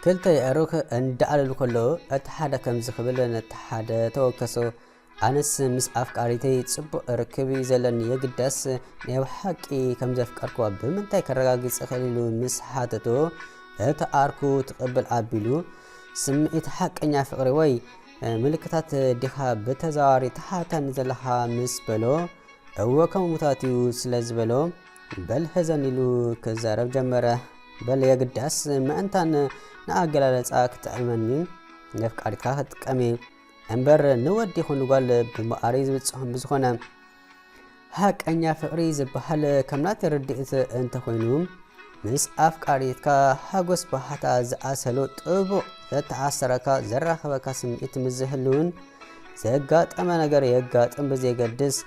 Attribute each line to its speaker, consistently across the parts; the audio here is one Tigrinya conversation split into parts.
Speaker 1: ክልተ የዕሩኽ እንዳዕለሉ ከለዉ እቲ ሓደ ከምዚ ክብል ነቲ ሓደ ተወከሶ ኣነስ ምስ ኣፍቃሪተይ ጽቡቕ ርክብ እዩ ዘለኒ የግዳስ ናይ ብሓቂ ከም ዘፍቀርክዋ ብምንታይ ከረጋግጽ እኽእል ኢሉ ምስ ሓተቶ እቲ ዓርኩ ትቕብል ኣቢሉ ስምዒት ሓቀኛ ፍቕሪ ወይ ምልክታት ዲኻ ብተዘዋዋሪ ተሓታኒ ዘለኻ ምስ በሎ እወ ከም ሙታት እዩ ስለ ዝበሎ በል ህዘን ኢሉ ክዛረብ ጀመረ። በል የግዳስ ምእንታን ንኣገላለጻ ክጥዕመኒ ነፍቃሪትካ ክጥቀሚ እምበር ንወዲ ይኹን ጓል ብምኣሪ ዝብጽሖም ብዝኾነ ሃቀኛ ፍቅሪ ዝበሃል ከም ናተይ ርድኢት እንተኾይኑ ምስ ኣፍቃሪትካ ሓጎስ ባሕታ ዝኣሰሉ ጥቡቕ ዘተኣሰረካ ዘራኸበካ ስምዒት ምስ ዝህልውን ዘጋጠመ ነገር የጋጥም ብዘየገድስ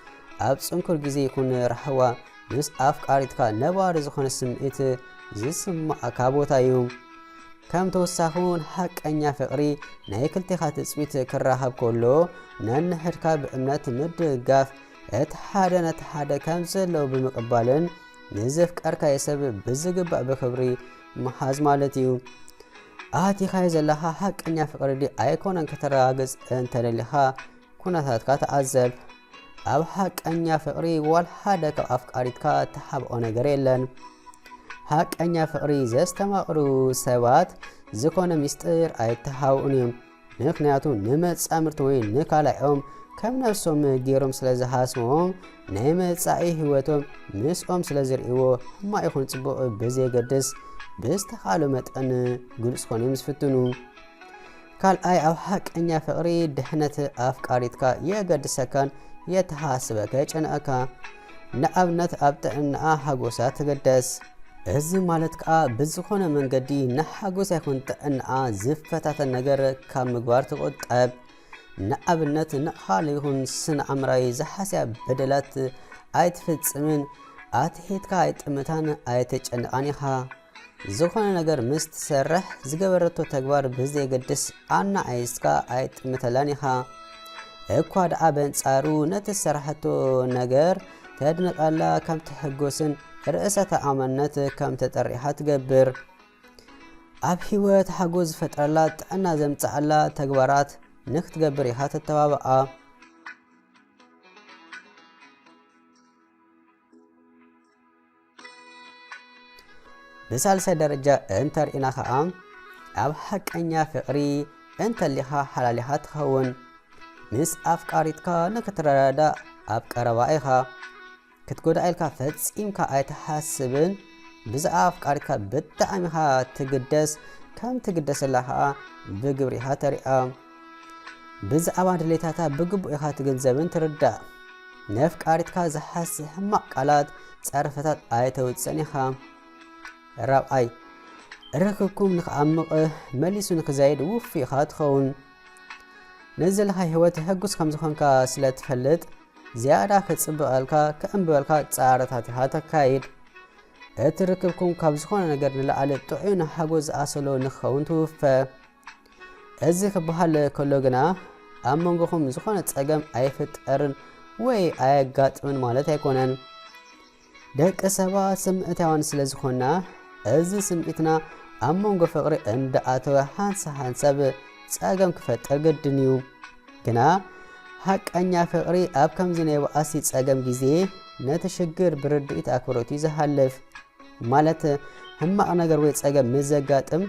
Speaker 1: ኣብ ጽንኩር ግዜ ይኹን ራሕዋ ምስ ኣፍቃሪትካ ነባሪ ዝኾነ ስምዒት ዝስማዕካ ቦታ እዩ። ከም ተወሳኺ እውን ሓቀኛ ፍቕሪ ናይ ክልቴኻ ትጽቢት ክራኸብ ከሎ ነንሕድካ ብእምነት ምድጋፍ እቲ ሓደ ነቲ ሓደ ከም ዘለዉ ብምቕባልን ንዘፍቀርካዮ ሰብ ብዝግባእ ብክብሪ ምሓዝ ማለት እዩ ኣቲኻዮ ዘለኻ ሓቀኛ ፍቕሪ ዲ ኣይኮነን ከተረጋግጽ እንተደሊኻ ኩነታትካ ተዓዘብ ኣብ ሓቀኛ ፍቅሪ ዋል ሓደ ካብ ኣፍቃሪትካ ተሓብኦ ነገር የለን ሓቀኛ ፍቅሪ ዘስተማቅሩ ሰባት ዝኾነ ሚስጥር ኣይተሓብኡን እዮም ምክንያቱ ንመጻምርቲ ወይ ንካላኦም ከም ነብሶም ገይሮም ስለ ዝሃስቦም ናይ መጻኢ ህይወቶም ምስኦም ስለ ዝርእይዎ ሕማቅ ይኹን ጽቡቅ ብዘየገድስ ብዝተኻእሎ መጠን ግሉጽ ኮነ ምስ ፍትኑ ካልኣይ ኣብ ሓቀኛ ፍቕሪ ድሕነት ኣፍቃሪትካ የገድሰካን የተሓስበካ የጨንኣካ ንኣብነት ኣብ ጥዕናኣ ሓጎሳ ተገደስ እዚ ማለት ከዓ ብዝኾነ መንገዲ ንሓጎሳ ይኹን ጥዕናኣ ዝፈታተን ነገር ካብ ምግባር ትቆጠብ ንኣብነት ንኣኻል ይኹን ስነ ኣምራዊ ዝሓስያ በደላት ኣይትፍጽምን ኣትሒትካ ኣይጥምታን ኣይተጨንቓን ኢኻ ዝኾነ ነገር ምስ ትሰርሕ ዝገበረቶ ተግባር ብዘየገድስ ኣናኣኢስካ ኣይጥምተላን ኢኻ። እኳ ደኣ በንጻሩ ነቲ ዝሰራሕቶ ነገር ተድንቐላ ከም ትሕጎስን ርእሰ ተኣማንነት ከም ተጠሪሓ ትገብር። ኣብ ህይወት ሓጎስ ዝፈጥረላ ጥዕና ዘምጽኣላ ተግባራት ንክትገብር ኢኻ ተተባብዓ። ብሳልሳይ ደረጃ እንተርኢና ከዓ ኣብ ሓቀኛ ፍቅሪ እንተሊኻ ሓላሊኻ ትኸውን ምስ ኣፍቃሪትካ ንክትረዳዳእ ኣብ ቀረባ ኢኻ ክትጎዳእ ኢልካ ፈፂምካ ኣይትሓስብን ብዛዕባ ኣፍቃሪትካ ብጣዕሚ ኢኻ ትግደስ ከም ትግደሰላ ከዓ ብግብሪ ኢኻ ተሪኣ ብዛዕባ ድሌታታ ብግቡእ ኢኻ ትግንዘብን ትርዳእ። ነፍቃሪትካ ዝሃሲ ሕማቕ ቃላት፣ ጸርፍታት ኣይተውጽእን ኢኻ። ራብዓይ፣ ርክብኩም ንክኣምቕ መሊሱ ንክዛይድ ውፉይ ኢኻ ትኸውን። ነዚ ዘለካ ህይወት ህጉስ ከም ዝኾንካ ስለ ትፈልጥ ዝያዳ ክጽብቐልካ ክዕምብበልካ ጻዕርታት ኢኻ ተካይድ። እቲ ርክብኩም ካብ ዝኾነ ነገር ንላዕሊ ጥዑይን ሓጎስ ዝኣሰሎ ንክኸውን ትውፈ። እዚ ክበሃል ከሎ ግና ኣብ መንጎኹም ዝኾነ ጸገም ኣይፍጠርን ወይ ኣየጋጥምን ማለት ኣይኮነን። ደቂ ሰባት ስምዒታውያን ስለ ዝኾንና እዚ ስምዒትና ኣብ መንጎ ፍቕሪ እንዳኣተወ ሃንሳ ሃንሰብ ጸገም ክፈጥር ግድን እዩ ግና ሃቀኛ ፍቕሪ ኣብ ከምዚ ናይ በኣሲ ጸገም ግዜ ነቲ ሽግር ብርድኢት ኣክብሮት እዩ ዝሃልፍ ማለት ሕማቕ ነገር ወይ ጸገም ምስ ዘጋጥም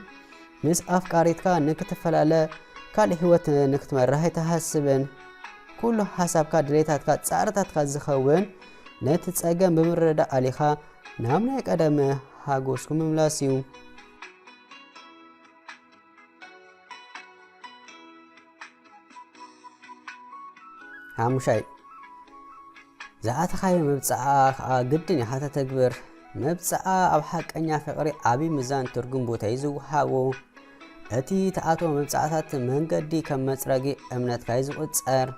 Speaker 1: ምስ ኣፍቃሪትካ ንክትፈላለ ካልእ ሂወት ንክትመርሕ ኣይትሃስብን። ኩሉ ሓሳብካ ድሌታትካ ጻዕርታትካ ዝኸውን ነቲ ጸገም ብምርዳእ ኣሊኻ ናብ ናይ ቀደም ሓጎስኩም ምምላስ እዩ። ሓሙሻይ ዝኣተኻዮ መብፅዓ ከዓ ግድን ኢኻ ተተግብር መብፅዓ ኣብ ሓቀኛ ፍቕሪ ዓብዪ ምዛን ትርጉም ቦታ እዩ ዝወሃቦ እቲ ተኣትዎ መብፅዓታት መንገዲ ከም መፅረጊ እምነትካ እዩ ዝቑፀር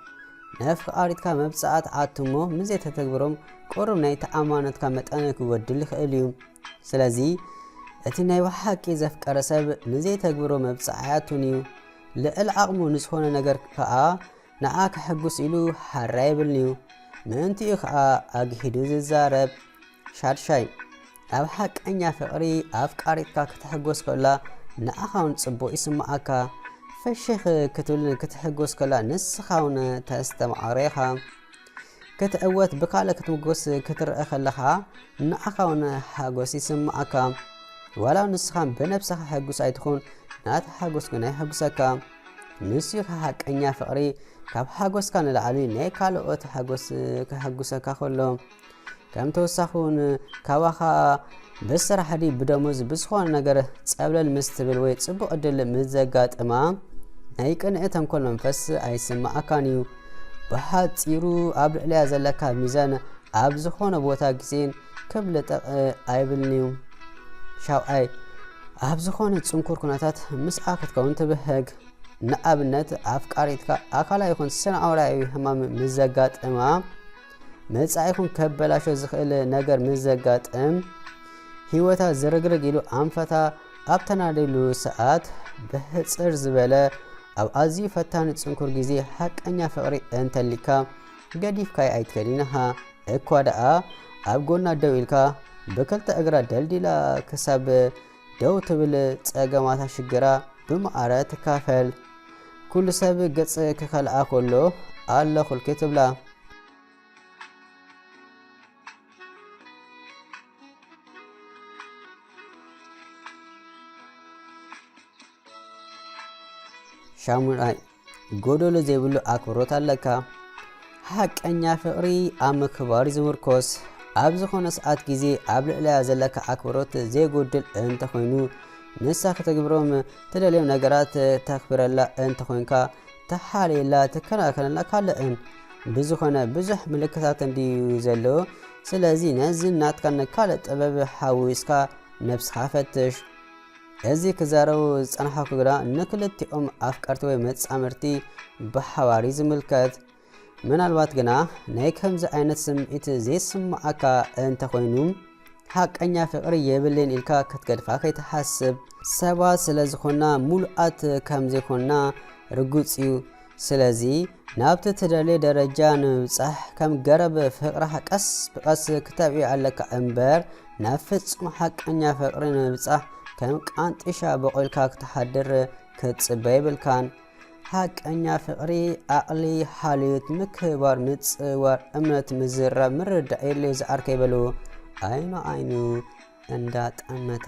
Speaker 1: ነፍቃሪትካ መብፅዓ ተኣትሞ ምዘተተግብሮም ቁሩብ ናይ ተኣማኖትካ መጠን ክጎድል ይኽእል እዩ ስለዚ እቲ ናይ ብሓቂ ዘፍቀረ ሰብ ንዘይተግብሮ መብጽዓ ኣያቱን እዩ። ልዕል ዓቕሙ ንዝኾነ ነገር ከኣ ንዓ ከሕጉስ ኢሉ ሓር ኣይብልን እዩ። ምእንቲኡ ከኣ ኣግሂዱ ዝዛረብ። ሻድሻይ፣ ኣብ ሓቀኛ ፍቕሪ ኣፍቃሪትካ ክትሕጎስ ከላ ንዓኻ እውን ጽቡቕ ይስምዓካ። ፍሽኽ ክትብልን ክትሕጎስ ከላ ንስኻ እውን ተስተምዓሮ ኢኻ። ክትዕወት ብካልእ ክትምጎስ ክትርእ ከለኻ ንዓኻውን ሓጎስ ይስምዓካ ዋላው ንስኻ ብነብስኻ ሕጉስ ኣይትኹን ናት ሓጎስ ግና ይሕጉሰካ ንሱ ሓቀኛ ፍቕሪ ካብ ሓጎስካ ንላዕሊ ናይ ካልኦት ሓጎስ ከሕጉሰካ ከሎ ከም ተወሳኺ ውን ካባኻ ብስራሕ ድዩ ብደሞዝ ብዝኾነ ነገር ጸብለል ምስ ትብል ወይ ጽቡቕ ዕድል ምስ ዘጋጥማ ናይ ቅንኢ ተንኮል መንፈስ ኣይስማኣካን እዩ ብሓጺሩ ኣብ ልዕሊያ ዘለካ ሚዛን ኣብ ዝኾነ ቦታ ግዜን ክብ ልጠቕ ኣይብልን እዩ ሻውዓይ ኣብ ዝኾነ ጽንኩር ኩነታት ምስኣ ክትከውን ትብህግ ንኣብነት ኣፍቃሪትካ ኣካላ ይኹን ስነ ኣውራያዊ ህማም ምስ ዘጋጥማ መጻኢኹም ከበላሾ ዝኽእል ነገር ምስ ዘጋጥም ህይወታ ዝርግርግ ኢሉ ኣንፈታ ኣብ ተናደሉ ሰዓት ብሕጽር ዝበለ ኣብ ኣዝዩ ፈታኒ ጽንኩር ግዜ ሓቀኛ ፍቕሪ እንተሊካ ገዲፍካይ ኣይትከድን ኢኻ እኳ ደኣ ኣብ ጎና ደው ኢልካ ብክልተ እግራ ደልዲላ ክሳብ ደው ትብል ጸገማታ ሽግራ ብማዕረ ትካፈል ኩሉ ሰብ ገጽ ክኸልኣ ከሎ ኣለኹልኪ ትብላ። ሻሙናይ ጎዶሎ ዘይብሉ ኣክብሮት ኣለካ። ሓቀኛ ፍቕሪ ኣብ ምክባር ዝምርኮስ ኣብ ዝኾነ ሰዓት ግዜ ኣብ ልዕለያ ዘለካ ኣክብሮት ዘይጎድል እንተኾይኑ ንሳ ከተግብሮም ትደልዮም ነገራት ተክብረላ እንተኾይንካ ተሓልየላ ትከናኸነላ ካለእን ብዝኾነ ብዙሕ ምልክታት እንድዩ ዘሎ ስለዚ ነዚ ናትካ ንካልእ ጥበብ ሓዊስካ ነብስኻ ፈትሽ እዚ ክዛረቡ ዝጸንሐኩ ግና ንክልቲኦም ኣፍቀርቲ ወይ መጻምድቲ ብሓባር እዩ ዝምልከት። ምናልባት ግና ናይ ከምዚ ዓይነት ስምዒት ዘይስምዓካ እንተ ኾይኑ ሓቀኛ ፍቕሪ የብልን ኢልካ ክትገድፋ ከይትሓስብ። ሰባት ስለ ዝኾንና ምሉኣት ከም ዘይኮንና ርጉጽ እዩ። ስለዚ ናብቲ ትደልዮ ደረጃ ንምብጻሕ ከም ገረብ ፍቕርኻ ቀስ ብቐስ ክተብዕዮ ኣለካ እምበር ናብ ፍጹም ሓቀኛ ፍቕሪ ንምብጻሕ ከም ቃንጢሻ በቑልካ ክትሓድር ክትጽበ የብልካን። ሓቀኛ ፍቕሪ ኣቕሊ፣ ሓልዮት፣ ምክብባር፣ ምጽዋር፣ እምነት፣ ምዝራብ፣ ምርዳእ የድልዮ ዝዓርከይ በሉ ዓይኑ ዓይኑ እንዳጠመተ